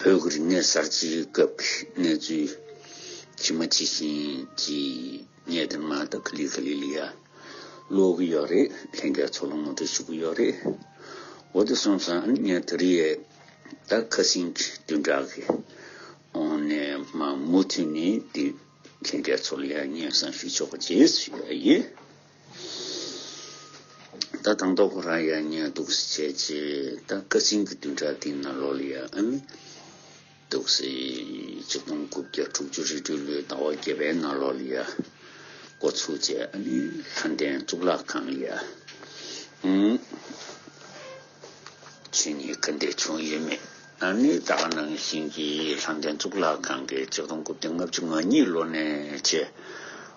བོད་ཀྱི་རིག་གནས་གསར་བརྗེའི་སྐབས་ཀྱི་གནས་ཚུལ་ཇི་མ་ཇི་བཞིན་གྱི་གནས་དོན་མ་དག་ཁི་ལི་ཁི་ལི་ལི་ཡ་ཀློག་གི་ཡོད་རེད་ལྷན་རྒྱས་ཚོགས་ལ་ངོ་སྤྲོད་ཞུ་གི་ཡོད་རེད། འོ་དེ་སོང་ཙང་ཨ་ནི་ཉན་ཐོས་རི་ཡས་ད་ཁ་སིང་གི་བདུན་ཕྲག་གི་འོང་ནས་མ་མུ་མཐུད་ནས་དེ་ལྷན་རྒྱས་ཚོགས་ལ་ཡང་སྙན་གསང་ཞུ་ཆོག་པ་བྱེད་ཡོད་ཡིན། ད་དང་ཐོག་ཁོ་རང་ཡར་ཉན་འདུག་སེ་བྱས་རྗེས་ད་སྐད་ཆེན་གྱི་བདུན་ཕྲག་སྟེང་ན་ལོ་ལེགས་ཡག་ཨེ་མེད་འདུག་སེ། གཅིག་སྟོང་དགུ་བརྒྱ་དྲུག་ཅུ་རེ་སྤྲུལ་ལོའི་ཟླ་བ་བརྒྱད་པའི་ནང་ལོ་ལེགས་ཡག་འགོ་ཚུགས་རྗེས་ཨ་ནི་ལྷ་ལྡན་གཙུག་ལག་ཁང་ཡར་ངོས་ཆོས་ཉིད་ཁ་འདེད་བྱུང་ཡོད་མེད་ཨ་ནི་ད་ག་ནང་བཞིན་གྱི་ལྷ་ལྡན་གཙུག་ལག་ཁང་གི་གཅིག་སྟོང་དགུ་བརྒྱ་ལྔ་བཅུ་ང་གཉིས་ལོ་ནས་བྱས།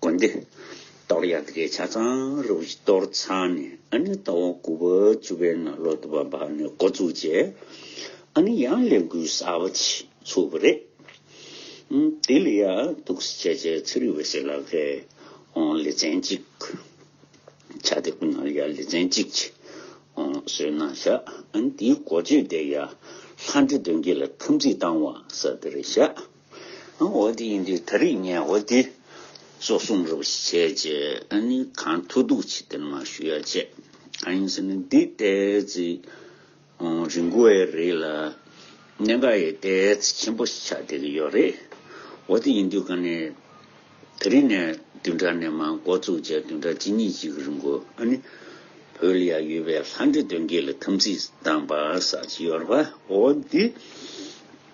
དགོན་སྡེ། གཏོར་ཡར་དགེ་ཆ་ཚང་རུ་བཞི་གཏོར་ཚང་ནས་ཨ་ནི་རྟ་བོང་སྐུ་བ་བཅུ་པའི་ནང་ལོ་དུ་བ་འབབ་ནས་འགོ་བཙུགས་རྗེས་ཨ་ནི་ཡང་ལས་འགུལ་གསར་བ་ཚུགས་པ་རེད། དེ་ལ་ཡར་ཐུག་སེ་བྱས་རྗེས་ཚེ་རིང་བས་སེ་ལ་ཁའི་ལེ་ཚན་གཅིག་བྱ་སྟེ་སྐུ་ནར་ཡར་ལེ་ཚན་གཅིག་བཟོས་ན་བཞག་ཨ་ནི་དེའི་གོ་ཆོད་དེ་ཡར་ལྷ་འདྲེ་གདོན་བགེགས་ལ་ཐམས་ཅད་བཏང་བ་ས་དེར་བཞག། འོ་དེ་ཡིན་དུས་ད་རིག་ངས་འོ་དེ། སོགས་གསུངས་རོགས་ཞེས་བྱས་རྗེས་ཨ་ནི་གང་ཐུགས་སྡུག་ཆེ་སྟེར་མ་ཞུ་ཡ་བྱས། གང་ཡིན་ཟེར་ན་འདི་ལྟའི་ཚེ། རི་མགོ་བའི་རི་ལ། གནས་འགའ་ཡི་ལྟའི་ཚེ་ཆེན་པོ་ཆགས་བསྡད་ཀྱི་ཡོད་རེད། འོ་དེ་ཡིན་དུས་གང་ནས། ད་རིག་ནས་བདུན་ཕྲག་ནས་མ་འགོ་བཙུགས་རྗེས་བདུན་ཕྲག་གཅིག་གཉིས་གཅིག་རིང་གོ་ཨ་ནི། བོད་ལ་ཡང་ཡོད་པའི་ལྷ་འདྲེ་གདོན་བགེགས་ལ་དམ་ཚིག་བཏང་པ་ཟག་བྱེད་ཡོད་རེད་པ་འོ་དེ།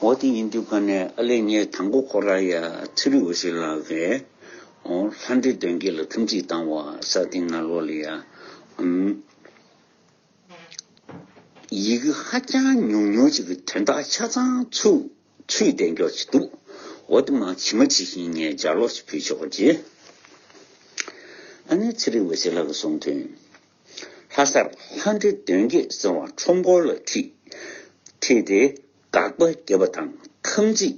འོ་དེ་ཡིན་དུས་ཁོ་ནས་ཨ་ལེ་ངས་དང་པོ་ཁོ་རང་ཡ་ཚི་རི་འོ་ཞིག་ལ་ཀའི་འོ་ལྷ་འདྲེ་དོན་གྱི་ལ་ཐུམ་ཅིག་བཏང་བ་ས་ཏིང་ང་ལོ་ལི་ཡ་འམ། ཡི་གེ་ཧ་ཅང་ཉུང་ཉུང་ཅིག་གི་དོན་དག་ཆ་ཚང་ཚུད་བསྡད་མགྱོགས་ཅིག་འདུག་འོ་དེ་མང་ཇི་མ་ཇི་བཞིན་ངས་སྦྱར་ལོག་ཅིག་ཕུལ་ཆོག་ཅེས་ཨ་ལེ་ཚི་རི་འོ་ཞིག་ལ་ཀ་གསུངས་དུས། ལྷ་སར་ལྷ་འདྲེ་གདོན་བགེགས་སེལ་བ་ཁྲོམ་སྐོར་ལ་ཁྲིད། ཁྲིད་དེ་དགག་པ་བརྒྱད་པ་དང་ཐམས་ཅད་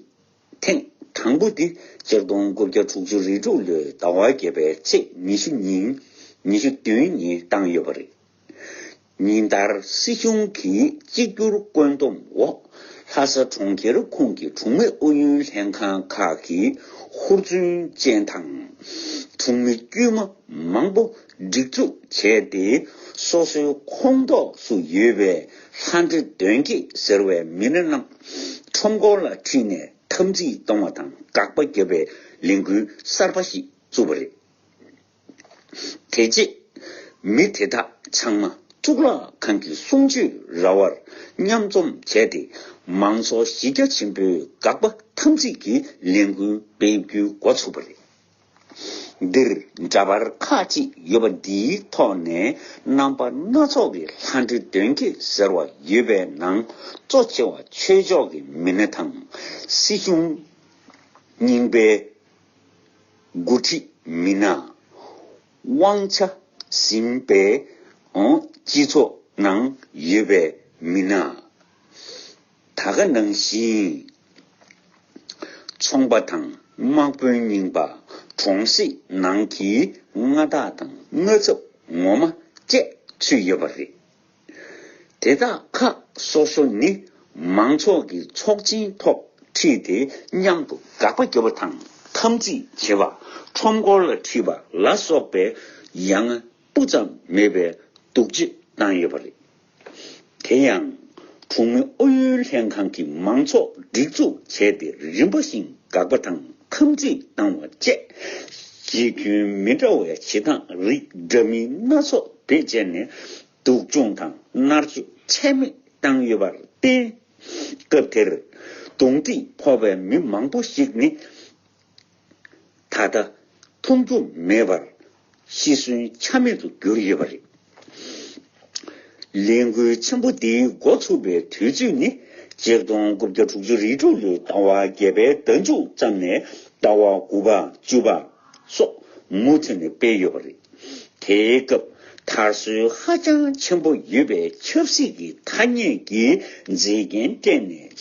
ཐེངས་དང་པོ་འདི་སྤྱིར་སྟོང་དགུ་བརྒྱ་དྲུག་ཅུ་རེ་དྲུག་ལོའི་ཟླ་བ་བརྒྱད་པའི་ཚེས་ཉི་ཤུ་ཉིན་ཉི་ཤུ་བདུན་ཉིན་བཏང་ཡོད་པ་རེད། ཉིན་ལྟར་སྲིད་གཞུང་གི་གཅིག་གྱུར་བཀོད་འདོམ་འོག་ལྷ་ས་གྲོང་ཁྱེར་ཁོངས་ཀྱི་གྲོང་མི་ཨུ་ཡོན་ལྷན་ཁང་ཁག་གི་ཧུར་བརྩོན་ཅན་དང་གྲོང་མི་དཀྱུས་མ་མང་པོ་སྒྲིག་འཛུགས་བྱས་ཏེ་སོ་སོའི་ཁོངས་གཏོགས་སུ་ཡོད་པའི་ལྷ་འདྲེ་གདོན་བགེགས་ཟེར་བའི་མི་སྣ་རྣམས་ཁྲོམ་སྐོར་ལ་ཁྲིད་ནས་འཐབ་འཛིང་གཏོང་བ་དང་དགག་པ་བརྒྱབ་པའི་ལས་འགུལ་གསར་པ་ཞིག་བཙུགས་པ་རེད། དེ་རྗེས་མི་དེ་དག་ཚང་མ་གཙུག་ལག་ཁང་གི་གསུང་ཆོས་ར་བར་མཉམ་འཛོམས་བྱས་ཏེ་མང་ཚོགས་གཞི་རྒྱ་ཆེན་པོའི་དགག་པ་འཐབ་འཛིང་གི་ལས་འགུལ་སྤེལ་རྒྱུའི་འགོ་ཚུགས་པ་རེད། འདིར་འདྲ་པར་ཁག་ཅིག་ཡོད་པ་འདིའི་ཐོག་ནས་རྣམ་པ་སྣ་ཚོགས་ཀྱི་ལྷ་འདྲེ་གདོན་བགེགས་ཟེར་བ་ཡོད་པའི་ནང་གཙོ་ཆེ་བ་ཆོས་ཕྱོགས་ཀྱི་མི་སྣ་དང། སྲིད་གཞུང། རྙིང་པའི་འགོ་ཁྲིད་མི་སྣ། དབང་ཆ་ཟིན་པའི་སྤྱི་ཚོགས་ནང་ཡོད་པའི་མི་སྣ། ད་ག་ནང་བཞིན་ཚོང་པ་དང་དམག་དཔོན་རྙིང་པ་གྲོང་གསེབ་ནང་གི་མངའ་བདག་དང་མངའ་ཚབ་ངོ་མ་བཅས་ཚུད་ཡོད་པ་རེད། དེ་དག་ཁག་སོ་སོ་ནི་མང་ཚོགས་ཀྱི་ཚོགས་ཆེན་ཐོག་ཁྲིད་དེ་མཉམ་དུ་དགག་པ་རྒྱབ་པ་དང་འཐམ་རྩིས་བྱེད་པ་ཁྲོམ་སྐོར་ལ་ཁྲིད་པ་ལ་སོགས་པའི་ཡ་ང་སྤུ་ཙམ་མེད་པའི་སྡུག་སྤྱོད་བཏང་ཡོད་པ་རེད། དེ་ཡང། གྲོང་མི་ཨུ་ཡོན་ལྷན་ཁང་གིས་མང་ཚོགས་སྒྲིག་འཛུགས་བྱས་ཏེ་རིམ་པ་བཞིན་དགག་པ་དང་འཐམ་འཁྲུད་བཏང་བ་བཅས་གཞི་ཁྱོན་མི་འདྲ་བའི་བྱེད་སྟངས་རིགས་འདྲ་མིན་སྣ་ཚོགས་བེད་སྤྱད་ནས་སྡུག་སྦྱོང་དང་མནར་གཅོད་ཚད་མེད་བཏང་ཡོད་པར་བརྟེན། སྐབས་དེར་རྡུང་རྡེག་ཕོག་པའི་མི་མང་པོ་ཞིག་ནི། ད་ལྟ་མཐོང་རྒྱུ་མེད་པར་ཤི་གསོན་ཆ་མེད་དུ་གྱུར་ཡོད་པ་རེད། ལས་འགུལ་ཆེན་པོ་འདིའི་འགོ་ཚུགས་པའི་དུས་ཚོད་ནི་གཅིག་སྟོང་དགུ་བརྒྱ་དྲུག་ཅུ་རེ་དྲུག་ལོའི་ཟླ་བ་བརྒྱད་པའི་ཟླ་མཇུག་ཙམ་ནས་ཟླ་བ་དགུ་པ་བཅུ་པ་སོགས་མུ་མཐུད་ནས་སྤེལ་ཡོད་པ་རེད། དེའི་སྐབས་དར་སྲོལ་ཧ་ཅང་ཆེན་པོ་ཡོད་པའི་ཆབ་སྲིད་ཀྱི་ཐ་སྙད་ཀྱི་མཛེས་རྒྱན་སྤྲས་ནས།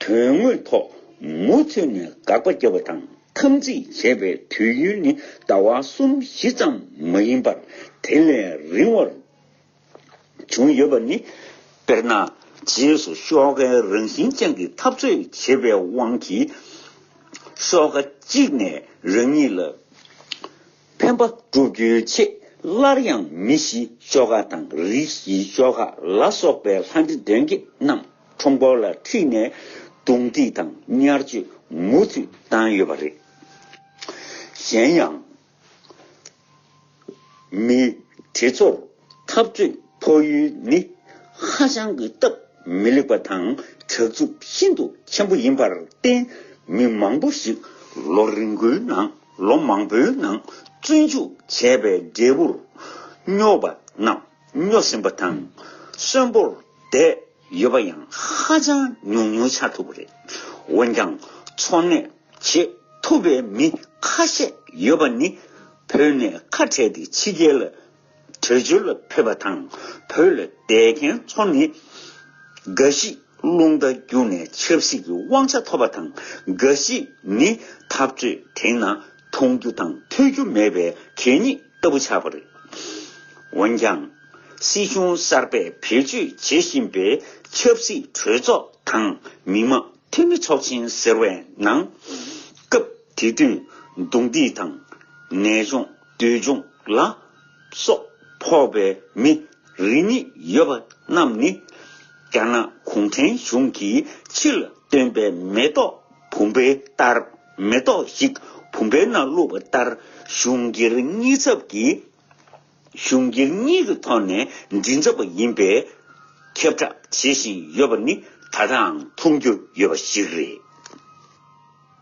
དོན་དངོས་ཐོག་མུ་མཐུད་ནས་དགག་པ་རྒྱབ་པ་དང་འཐམ་འཛིང་བྱེད་པའི་དུས་ཡུན་ནི་ཟླ་བ་གསུམ་བཞི་ཙམ་མ་ཡིན་པར་དེ་ལས་རིང་བར་བྱུང་ཡོད་པ་ནི། དཔེར་ན། རྗེས་སུ་ཤོག་ཀའི་རང་བཞིན་ཅན་གྱི་འཐབ་རྩོད་བྱེད་པའི་དབང་གིས། ཤོག་ཀ་གཅིག་ནས་རང་ཉིད་ལ་ཕན་པ་བསྒྲུབ་རྒྱུའི་ཆེད་སླར་ཡང་མི་བཞིའི་ཤོག་ཀ་དང་རིགས་བཞིའི་ཤོག་ཀ་ལ་སོགས་པའི་ལྷ་འདྲེ་གདོན་བགེགས་རྣམས། ཁྲོམ་སྐོར་ལ་ཁྲིད་ནས་རྡུང་རྡེག་དང་ཉར་སྤྱོད་མུ་མཐུད་བཏང་ཡོད་པ་རེད། གཞན་ཡང། མི་དེ་ཚོར་འཐབ་རྩོད་ཕོག་ཡུལ་ནི་ཧ་ཅང་གི་སྟབས་མི་ལེགས་པ་དང་དྲག་རྩུབ་ཤིན་ཏུ་ཆེན་པོ་ཡིན་པར་བརྟེན་མི་མང་པོ་ཞིག་ལོ་རིང་པོའི་ནང་ལོ་མང་པོའི་ནང་བཙོན་འཇུག་བྱས་པའི་འབྲས་བུར་སྨྱོ་པ་རྣམས། རྙོག་ཟིང་པོ་དང་གསོན་པོར་བསྡད་ཡོད་པ་ཡང་ཧ་ཅང་ཉུང་ཉུང་ཆགས་ཐུབ་པ་རེད། འོན་ཀྱང་འཚོ་གནས་བྱེད་ཐུབ་པའི་མི་ཁ་ཤས་ཡོད་པ་ནི་བོད་ནས་ཁ་བྲལ་ཏེ་ཕྱི་རྒྱལ་ལ་བྲོས་བྱོལ་ལ་ཕེབས་པ་དང་བོད་ལ་བསྡད་མཁན་ཚོ་ནི་འགའ་ཞིག་རླུང་རྟ་རྒྱུགས་ནས་ཆབ་སྲིད་ཀྱི་དབང་ཆ་ཐོབ་པ་དང་འགའ་ཞིག་ནི་འཐབ་རྩོད་དེང་ན་མཐོང་རྒྱུ་དང་ཐོས་རྒྱུ་མེད་པའི་གད་སྙིགས་ལྟ་བུ་ཆགས་པ་རེད། འོན་ཀྱང། སྲིད་གཞུང་གསར་པས་བེད་སྤྱོད་བྱེད་བཞིན་པའི་ཆབ་སྲིད་གྲོས་ཚོགས་དང་མི་དམངས་འཐུས་མི་ཚོགས་ཆེན་ཟེར་བའི་ནང། སྐབས་དེ་དུས་རྡུང་རྡེག་དང། ནད་གཞུང། འདོད་འབྱུང་ལ་སོགས་ཕོག་པའི་མི་རེ་གཉིས་ཡོད་པ་རྣམས་ནི། རྒྱ་ནག་གུང་ཁྲན་གཞུང་གིས་ཕྱི་ལ་བཏོན་པའི་མེ་ཏོག་བུམ་པའི་ལྟར་མེ་ཏོག་ཞིག་བུམ་པའི་ནང་བླུགས་པ་ལྟར་གཞུང་སྒེར་གཉིས་ཚབ་ཀྱིས་གཞུང་སྒེར་གཉིས་ཀྱི་ཐོག་ནས་མགྲིན་ཚབ་པ་ཡིན་པའི་ཁྱབ་བསྒྲགས་བྱེད་བཞིན་ཡོད་པ་ནི་ད་ལྟའང་མཐོང་རྒྱུ་ཡོད་པ་ཞིག་རེད།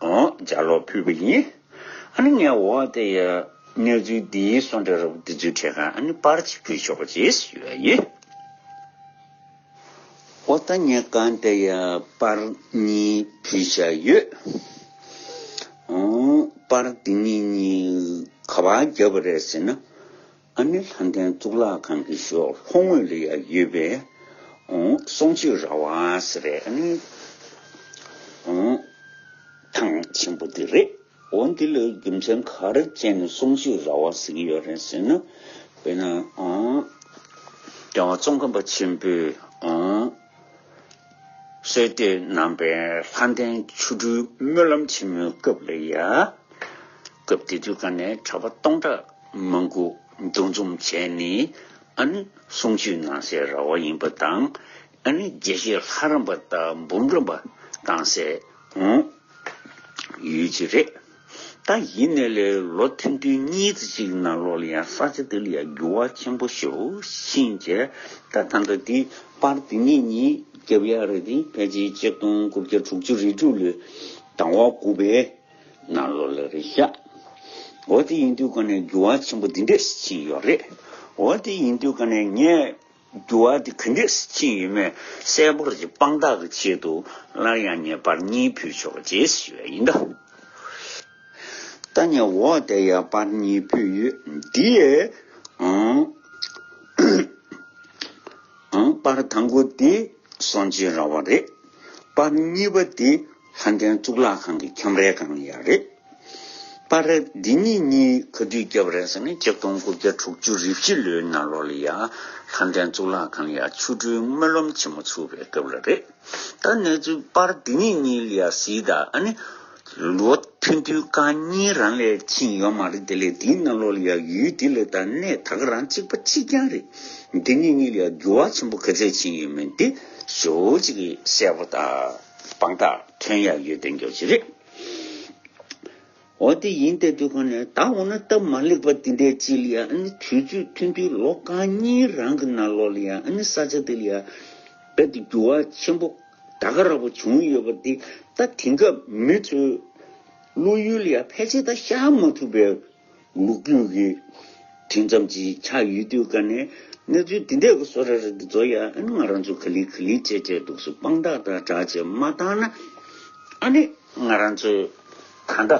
ལྗགས་ཀློག་ཕུལ་བ་ཡིན། ཨ་ནི་ངས་འོ་དེ་ཡི་གནས་ཚུལ་འདི་སོང་འདྲ་རོགས་འདི་ཚོའི་ཁྲེ་ཁང་ཨ་ནི་པར་གཅིག་ཕུལ་ཆོག་ཅེས་ཞུས་བ་ཡིན། འོ་ད་ངས་གང་དེ་ཡི་པར་གཉིས་ཕུལ་བཞག་ཡོད། པར་འདི་གཉིས་གཉིས་ག་བར་བརྒྱབ་པ་རེད་ཟེར་ན། ཨ་ནེ་ལྷ་ལྡན་གཙུག་ལག་ཁང་གི་ཤོག་ལྷོ་ངོས་ལ་ཡང་ཡོད་པས། སོང་ཆོས་ར་བ་ཟེར་བའི་ཨ་ནེ་ཐང་ཆེན་པོ་དེ་རེད། འོ་འདི་ལ་རྒྱུ་མཚན་ག་རེ་བཅད་ནས་སོང་ཆོས་ར་བ་ཟེར་གྱི་ཡོད་རེད་ཟེར་ན། དཔེར་ན། རྒྱལ་བ་ཙོང་ཁ་པ་ཆེན་པོས། གསོལ་བསྟོད་རྣམ་པའི་ལྷ་ལྡན་ཆོ་འཕྲུལ་སྨོན་ལམ་ཆེན་མོའི་སྐབས་ལ་ཡང། སྐབས་དེ་དུས་ཀ་ནས་གྲྭ་པ་སྟོང་ཕྲག་མང་དགུ་འདུ་འཛོམས་བྱས་ནས་ཨ་ནི་གསུང་ཆོས་གནང་སའི་ར་བ་ཡིན་པ་དང་ཨ་ནི་དགེ་བཤེས་ལྷ་རམས་པ་དང་འབུམ་རམས་པ་གཏང་སའི་ཡུལ་གྱི་རེད། ད་ཡིན་ནས་ལས་ལོ་ཐེངས་བདུན་གཉིས་ཙི་གཅིག་ནང་ལོགས་ལ་ཡང་ས་ཆ་འདི་ལ་ཡང་འགྱུར་བ་ཆེན་པོ་ཞུ་ཞིང་ཆེ་ད་ད་ལྟ་འདི་པར་དེ་ཉིད་ཉིད་རྒྱབ་ཡར་རེ་དེ་ཕལ་ཆེར་གཅིག་སྟོང་དགུ་བརྒྱ་དྲུག་ཅུ་རེ་དྲུག་ལོའི་དང་བ་དགུ་པའི་ནང་ལོགས་ལ་རེད་ཤག་འོ་དེ་ཡིན་དུས་ག་ནས་འགྱུར་བ་ཆེན་པོ་འདི་འདྲས་ཕྱིན་ཡོད་རེད་འོ་དེ་ཡིན་དུས་ག་ནས་ངས། འགྱུར་བ་དེ་གུས་འདུད་ཅིང་ཡིད་སྨོན་གསལ་པོར་གྱི་དཔང་རྟགས་ཀྱི་ཆེད་དུ་སླར་ཡང་ངེས་པར་གཉིས་ཕུལ་ཆོག་རྗེས་སུ་ཞུ་བས་ཡིན། ད་ནི་འོ་དེ་ཡང་པར་གཉིས་ཕུལ་ཡོད་འདིའི། པར་དང་པོ་དེ་སོང་ཅི་ར་བ་རེད། པར་གཉིས་པ་དེ། ལྷ་ལྡན་གཙུག་ལག་ཁང་གི་ཁྱམས་རའི་སྒང་ཡག་རེད། པར་རེད་འདི་གཉིས་གཉིས་ག་དུས་བརྒྱབ་རན་ཟེར་ན་གཅིག་སྟོང་དགུ་བརྒྱ་དྲུག་ཅུ་རེ་བཞི་ལོའི་ནང་ལོག་ལ་ཡ། ལྷ་ལྡན་གཙུག་ལག་ཁང་ཡ་ཆུ་སྦྲུལ་སྨོན་ལམ་ཆེན་མོ་ཚུགས་པའི་སྐབས་ལ་རེད། ད་གནས་ཚུལ་པར་འདི་གཉིས་གཉིས་ལ་ཡ་གཟིགས་ད་ཨ་ནི། ལོ་ཐོན་དུས་ཀ་གཉིས་རང་ལས་ཕྱིན་ཡོད་མ་རེད་དེ་ལས་འདིའི་ནང་ལོག་ལ་ཡ་ཡུལ་འདི་ལ་ད་གནས་ད་ག་རང་གཅིག་པ་གཅིག་རྐྱང་རེད། འདི་གཉིས་གཉིས་ལ་ཡ་འགྱུར་བ་ཆེན་པོ་ག་ཚད་ཕྱིན་ཡོད་མེད་འདི་ཞོ་གཅིག་གིས་གསལ་པོ་ད། དཔང་རྟགས་ཐོན་ཡག་ཡོད་དོན་གྱོ་ཅི་རེད། འོ་དེ་ཡིན་ཏེ་དུས་གང་ནས་ད་འོ་ན་སྟབས་མ་ལེགས་པ་དེ་འདྲའི་ཅི་ལ་ཡ་ཨ་ནི་དུས་ཚོད་མཐུན་དུས་ལོ་གང་གཉིས་རང་གི་ན་ལོ་ལ་ཡ་ཨ་ནི་ས་ཆ་དེ་ལ་ཡ་རྦད་དུ་འགྱུར་བ་ཆེན་པོ་ད་ག་རག་པོ་བྱུང་ཡོད་པ་འདི་ད་དེང་སྐབས་མི་ཚོས་བློ་ཡུལ་ལ་ཡ་ཕལ་ཆེར་ད་ཤར་མ་ཐུབ་པའི། མུག་སྤྲུལ་གྱི་དུས་མཚམས་ཀྱི་ཆགས་ཡུལ་དུས་སྐབས་ནས་གནས་ཚུལ་འདི་འདྲས་གོ་བཟོ་ར་རི་འདི་ཚོ་ཡ་ཨན་ང་རང་ཚོ་ག་ལི་ག་ལི་བྱས་བྱས་འདུག་སུ་དཔང་རྟགས་དང་སྒྲགས་བྱས་མ་བཏང་ན་ཨ་ནི་ང་རང་ཚོའི་ད་ལྟ་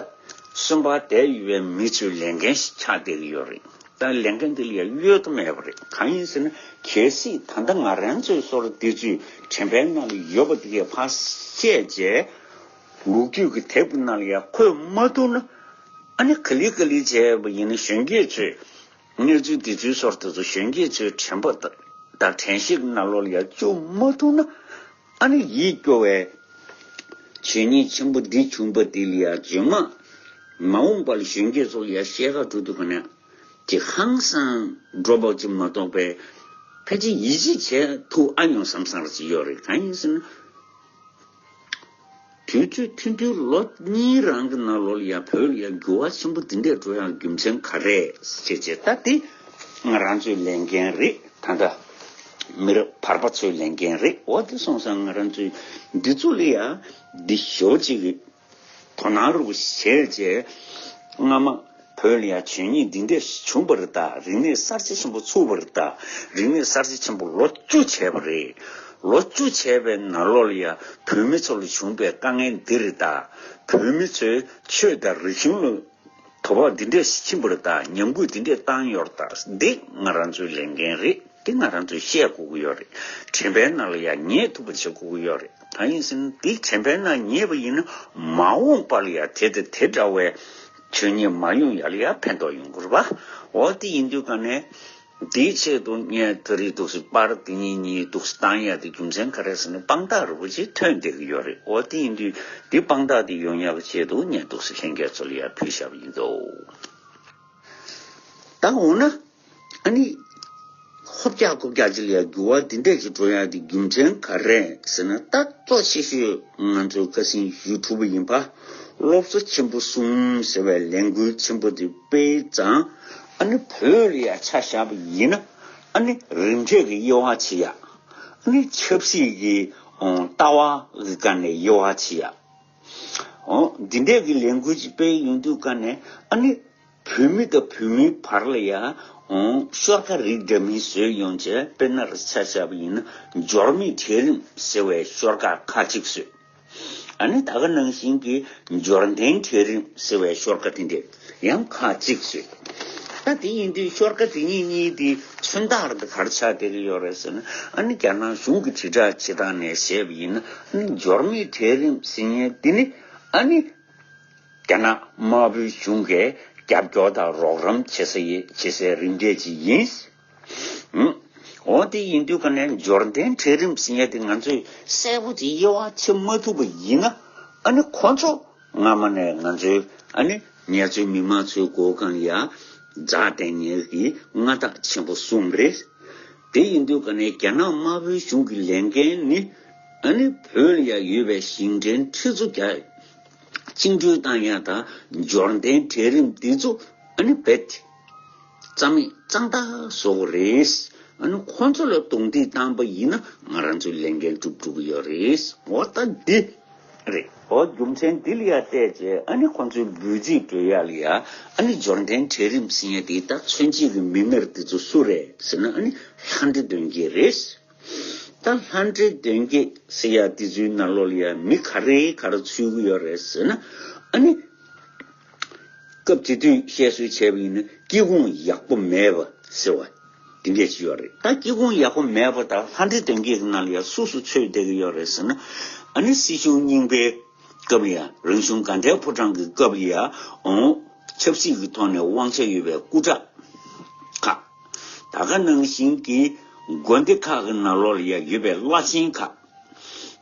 སུན་པ་དད་ཡོད་པའི་མི་ཚོའི་ལས་འགན་ཞིག་ཆགས་བསྡད་ཀྱི་ཡོད་རེད་ད་ལས་འགན་འདི་ལ་ཡ་གཡོལ་ཐབས་མེད་པ་རེད་གང་ཡིན་ཟེར་ན་གལ་སྲིད་ད་ལྟ་ང་རང་ཚོའི་སོར་འདི་ཚོའི་དྲན་པའི་ནང་ལ་ཡོད་པ་འདི་གའི་ཕ་བཤད་བྱས། ལུག་ཁྱུ་གི་དེབ་རྣམས་ལ་ཡང་འཁོད་མ་ཐུབ་ན། ཨ་ནི་ག་ལི་ག་ལི་བྱས་པ་ཡིན་ན་གཞོན་སྐྱེས་ཚོས་གནས་ཚུལ་འདི་ཚོའི་ཚོར་དེ་ཚོ་གཞོན་སྐྱེས་ཚོའི་དྲན་པ་དང་དྲན་གཤེགས་རྣ་ལོ་ལ་ཡང་བཅུག་མ་ཐུབ་ན། ཨ་ནི་ཡིད་སྐྱོ་བའི་བྱས་ཉེས་ཆེན་པོ་འདི་བྱུང་པ་འདི་ལ་ཡང་རྗེས་མ་མ་འོངས་པ་ལ་གཞོན་སྐྱེས་ཚོ་ལ་ཡང་བཤད་དགའ་འགྲོ་དུས་ག་ནས་ཀྱི་ཧང་སང་འགྲོ་བ་ཅིག་མ་གཏོགས་པའི་ཕལ་ཆེར་ཡིད་ཆེས་བྱེད་ཐུབ་ཨ་མྱོང་བསམ་བསམ་རེ་ཅིག་ཡོད་རེད་གང་ཡིན་ཟེར་ན། དུས་ཚོད་ཐུང་དུས་ལོ་གཉིས་རང་གི་ནང་ལོ་ལ་ཡང་བོད་ལ་ཡང་འགྱུར་བ་ཆེན་པོ་འདི་འདྲས་འགྲོ་ཡང་རྒྱུ་མཚན་ག་རེད་བྱས་བྱས་ད་འདི་ང་རང་ཚོའི་ལས་འགན་རེད་ད་འདྲ་མི་རབས་བར་པ་ཚོའི་ལས་འགན་རེད་འོ་འདི་སོང་ས་ང་རང་ཚོའི་འདི་ཚོ་ལ་ཡང་འདི་ཞོ་གཅིག་དོ་སྣང་རོགས་བྱས་རྗེས། སྔ་མ་བོད་ལ་ཡང་བྱས་ཉེས་འདི་འདྲ་ཞིག་བྱུང་བར་བརྟག་རིག་གནས་གསར་བརྗེ་ཆེན་པོ་ཚུགས་པར་བརྟག་རིག་གནས་གསར་བརྗེ་ཆེན་པོ་ལོ་བཅུ་བྱས་པ་རེད། ལོ་བཅུ་བྱས་པའི་ནང་ལོ་ལ་ཡང་བོད་མི་ཚོ་ལ་བྱུང་བའི་དཀའ་ངལ་འདི་རིགས་དང། བོད་མི་ཚོས་ཆོས་དང་རིག་གཞུང་ལ། དོ་ཕོག་འདི་འདྲས་ཕྱིན་པར་དང་ཉམས་རྒུད་འདི་འདྲས་བཏང་ཡོད་རེད་ད་འདི་ང་རང་ཚོའི་ལས་འགན་རེད་འདི་ང་རང་ཚོས་བཤད་དགོས་ཀྱི་ཡོད་རེད་དྲན་པའི་ནང་ལ་ཡང་ཉེ་ཐུབ་པར་བྱེད་དགོས་ཀྱི་ཡོད་རེད་ད་ཡིན་ཟིན་འདི་དྲན་པའི་ནང་ཉེ་བ་ཡིན་ན་མ་འོངས་པར་ཡང་དེ་དང་དེ་འདྲ་བའི་ཆོས་ཉིད་མ་ཡོང་ཡ་ལ་ཡང་ཕན་ཐོག་ཡོང་དགོས་རེད་བ་འོ་དེ་ཡིན་དུས་ག་ནས། དེའི་ཆེད་དུ་ངས་ད་རེས་དུག་སེལ་པར་དེ་གཉིས་གཉིས་དུག་སེལ་བཏང་ཡ་དེ་རྒྱུ་མཚན་ག་རེ་ཟེར་ན་དཔང་རྟགས་རི་བོ་ཆེ་ཐོན་བསྡད་ཀྱི་ཡོད་རེད་འོ་དེ་ཡིན་དུས་དེའི་དཔང་རྟགས་དེ་ཡོང་ཡག་གི་ཆེད་དུ་ངས་དུག་སེལ་ལྷན་རྒྱས་ཚོ་ལ་ཡར་ཕུལ་བཞག་པ་ཡིན་འདུག་ད་འོ་ན་ཨ་ནི་ཧོབ་རྒྱག་རྐོ་རྒྱག་ཅི་ལ་ཡག་འགྱུར་བ་དེ་འད་ཀྱི་འགྲོ་ཡག་དེ་རྒྱུ་མཚན་ག་རེ་ཟེར་ན་ད་གཙོ་ཆེ་ཤོས་ང་ཚོའི་བཀའ་སྲིན་ཞུས་ཐུབ་པ་ཡིན་པ་སློབ་གསོ་ཆེན་པོ་གསུམ་ཟེར་བའི་ལས་འགུལ་ཆེན་པོ་དེ་སྤེལ་ཙང་ཨ་ནི་བོད་ལ་ཡང་ཆ་བཞག་པ་ཡིན་ན་ཨ་ནི་རིམ་གྲས་ཀྱི་དབྱེ་བ་ཕྱེ་ཡག་ཨ་ནི་ཆབ་སྲིད་ཀྱི་ལྟ་བ་གི་སྐབས་ནས་དབྱེ་བ་ཕྱེ་ཡག་ཨོ། འདི་འདྲས་ཀྱི་ལས་འགུལ་ཅིག་སྤེལ་ཡོང་དུས་སྐབས་ནས་ཨ་ནི་བོད་མི་དང་བོད་མིའི་བར་ལ་ཡང་ཤོར་ཁ་རིགས་འདྲ་མིན་བཟོས་ཡོང་ཆེད་དཔེར་ན་ཆ་བཞག་པ་ཡིན་ན་འབྱོར་མེད་གྲལ་རིམ་ཟེར་བའི་ཤོར་ཁ་ཁག་ཅིག་བཟོས། ཨ་ནི་ད་ག་ནང་བཞིན་གྱི་འབྱོར་ལྡན་གྲལ་རིམ་ཟེར་བའི་ཤོར་ཀ་དེ་འདྲས་ཡང་ཁག་གཅིག་བཟོས། ད་དེ་ཡིན་དུས་ཤོར་ཀ་དེ་གཉིས་གཉིས་དེ་མཚོན་རྟགས་འདི་གར་ཆགས་བསྡད་ཀྱི་ཡོད་རེད་ཟེར་ན་ཨ་ནི་རྒྱ་ནག་གཞུང་གི་དྲིལ་བསྒྲགས་བྱེད་སྟངས་ནས་བཤད་པ་ཡིན་ན་ཨ་ནི་འབྱོར་མེད་གྲལ་རིམ་ཟེར་ཉེན་དེ་ནི་ཨ་ནི་རྒྱ་ནག་དམར་པོའི་གཞུང་གིས་རྒྱབ་སྐྱོར་དང་རོགས་རམ་བྱེད་སའི་རིམ་གྲས་ཅིག་ཡིན། འོན་ཏེ་ཡིན་དུས་ཀ་ནས་འབྱོར་ལྡན་གྲལ་རིམ་བཞིན་ཡལ་ཏེ་ང་ཚོས་གསལ་པོ་ཅིག་དབྱེ་བ་ཕྱེ་མ་ཐུབ་པ་ཡིན་ན་ཨ་ནི་ཁོ་ཚོ་སྔ་མ་ནས་ང་ཚོའི་ཨ་ནི་ངལ་རྩོལ་མི་དམངས་ཚོའི་སྒོ་ཁང་ཡ་རྫ་སྟེང་ངལ་གྱི་མངའ་བདག་ཆེན་པོ་གསུམ་རེད། དེ་ཡིན་དུས་ཀ་ནས་རྒྱ་ནག་དམར་པོའི་གཞུང་གི་ལས་འགན་ནི་ཨ་ནི་བོད་ལ་ཡ་ཡོད་པའི་ཞིང་བྲན་ཁྲི་ཚོ་བརྒྱ་བཅིངས་འགྲོལ་བཏང་ཡ་ད་འབྱོར་ལྡན་གྲལ་རིམ་འདི་ཚོ་ཨ་ནི་བེད་རྩ་མེད་གཙང་དག་བཟོ་གི་རེད། ཨ་ནུ་ཁོང་ཚོ་ལ་རྡུང་རྡེག་བཏང་བ་ཡིན་ན་ང་རང་ཚོའི་ལས་འགན་འགྲུབ་འགྲོ་གི་ཡོད་རེད། ངོ་རྟ་འདི་རེད། ཨོ་རྒྱུ་མཚན་འདི་ལ་ཡར་བལྟས་རྗེས་ཨ་ནི་ཁོང་ཚོའི་འབོད་ཚིག་བོད་ཡག་ལ་ཡག་ཨ་ནི་འབྱོར་འབྲིང་གྲལ་རིམ་ཟེར་ཡ་དེ་དག་མཚོན་བྱེད་ཀྱི་མི་སྣར་དེ་ཚོ་སུ་རེད་ཟེར་ན་ཨ་ནི་ལྷ་འདྲེ་དོན་རྒྱས་རེད། ད་ལྷ་འདྲེ་དོན་རྒྱས་ཟེར་ཡ་དེ་ཚོའི་ནར་ལོག་ལ་ཡ་མི་ག་རེ་ག་རེ་ཚུད་ཀྱི་ཡོད་རེད་ཟེར་ན་ཨ་ནི། སྐབས་དེ་དུས་བཤད་སྲོལ་བྱས་པ་ཡིན་ན་སྐྱི་ཁུང་ཡག་པོ་མེད་པ་ཟེར་བ་དེ་འདྲས་ཤིག་ཡོད་རེད། ད་སྐྱི་ཁུང་ཡག་པོ་མེད་པ་དག་ལྷ་འདྲེ་དོན་གྱི་གི་ནང་ལ་ཡང་སུ་སུ་འཚོས་བསྡད་ཀྱི་ཡོད་རེད་ཟེར་ན་ཨ་ནི་སྲིད་གཞུང་རྙིང་པའི་སྐབས་ཡང་རང་གཞུང་དགའ་འབྲས་ཕོ་བྲང་གི་སྐབས་ཡང་འོང་ཆབ་སྲིད་ཀྱི་ཐོག་ནས་དབང་ཆ་ཡོད་པའི་སྐུ་དྲག་ཁག་ད་ག་ནང་བཞིན་གྱི་དགོན་སྡེ་ཁག་གི་ནང་ལོགས་ལ་ཡང་ཡོད་པའི་བླ་ཆེན་ཁག་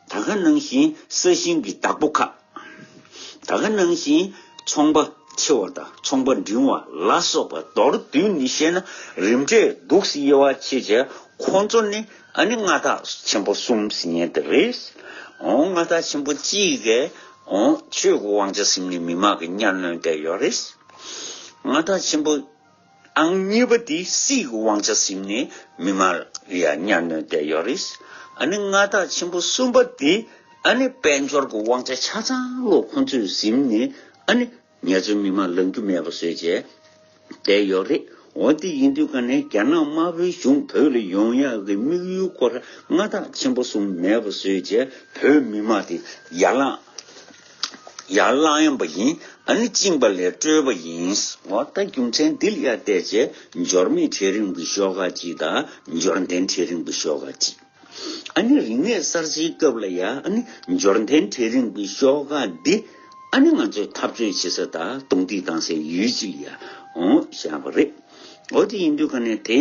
ད་ག་ནང་བཞིན་ས་ཞིང་གི་བདག་པོ་ཁག། ད་ག་ནང་བཞིན་ཚོང་པ་འཆི་བ་དང་ཚོང་པ་འབྲིང་བ་ལ་སོགས་པ་མདོར་བསྡུས་ནས་བཤད་ན་རིམ་གྲས་གདུགས་དབྱེ་བ་ཕྱེད་བྱས་ཁོང་ཚོ་ནི་ཨ་ནི་མངའ་བདག་ཆེན་པོ་གསུམ་ཟིན་དེ་རེད། ཨོང་མངའ་བདག་ཆེན་པོ་གཅིག་གི་ཨོང་ཆོས་ཀྱི་དབང་ཆ་ཟིན་ནས་མི་མང་གི་གཉའ་གནོན་བསྡད་ཡོད་རེད། མངའ་བདག་ཆེན་པོ། ཨང་གཉིས་པ་དེ་སྲིད་ཀྱི་དབང་ཆ་ཟིམ་ནས་མི་མ་ཡ་གཉའ་གནོན་བསྡད་ཡོད་རེད། ཨ་ནི་མངའ་བདག་ཆེན་པོ་གསུམ་པ་དེ་ཨ་ནི་དཔལ་འབྱོར་གྱི་དབང་ཆ་ཆ་ཚང་ལོ་ཁོང་ཚོས་ཟིམ་ནས་ཨ་ནི་ངེད་ཚོའི་མི་མ་ལང་རྒྱུ་མེད་པ་བཟོས་བྱས་བསྡད་ཡོད་རེད། འོ་དེ་ཡིན་དུས་ག་ནས་རྒྱ་ནག་དམར་པོའི་གཞུང་བོད་ལ་ཡོང་ཡག་གི་དམིགས་ཡུལ་སྐོར་མངའ་བདག་ཆེན་པོ་གསུམ་མེད་པ་བཟོས་བྱས་བོད་མི་མ་དེ་ཡར་ལངས། ཡར་བླངས་ཡོང་བ་ཡིན། ཨ་ནི་བཅིངས་པ་ལས་སྐྲོད་པ་ཡིན། འོ་ད་རྒྱུ་མཚན་འདི་ལ་ཡར་བལྟས་རྗེས་འབྱོར་མེད་གྲལ་རིང་པོའི་ཤོག་ཁག་གཅིག་དང་འབྱོར་ལྡན་གྲལ་རིང་པོའི་ཤོག་ཁག་གཅིག། ཨ་ནི་རིག་གནས་གསར་བརྗེའི་སྐབས་ལ་ཡར་ཨ་ནི་འབྱོར་ལྡན་གྲལ་རིང་པོའི་ཤོག་ཁག་འདི་ཨ་ནི་ང་ཚོས་འཐབ་རྩོད་བྱེད་ས་དང་རྡུང་རྡེག་བཏང་སའི་ཡུལ་གཅིག་ལ་ཡར་འོང་བཞག་པ་རེད། འོ་དེ་ཡིན་དུས་ཁ་ནས་དེ།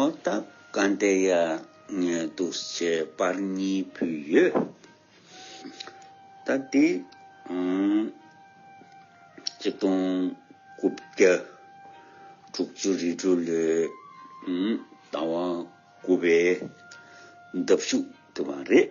ཨོ་ད་ག་འདི་ཡ་ངའི་སྡུག་ཆའི་པར་གཉིས་ཕུལ་ཡོད། ད་འདི་གཅིག་སྟོང་དགུ་བརྒྱ་དྲུག་ཅུ་རེ་དྲུག་ལོའི་ཟླ་བ་དགུ་པའི་འདབ་གཞུག་དུ་བ་རེད།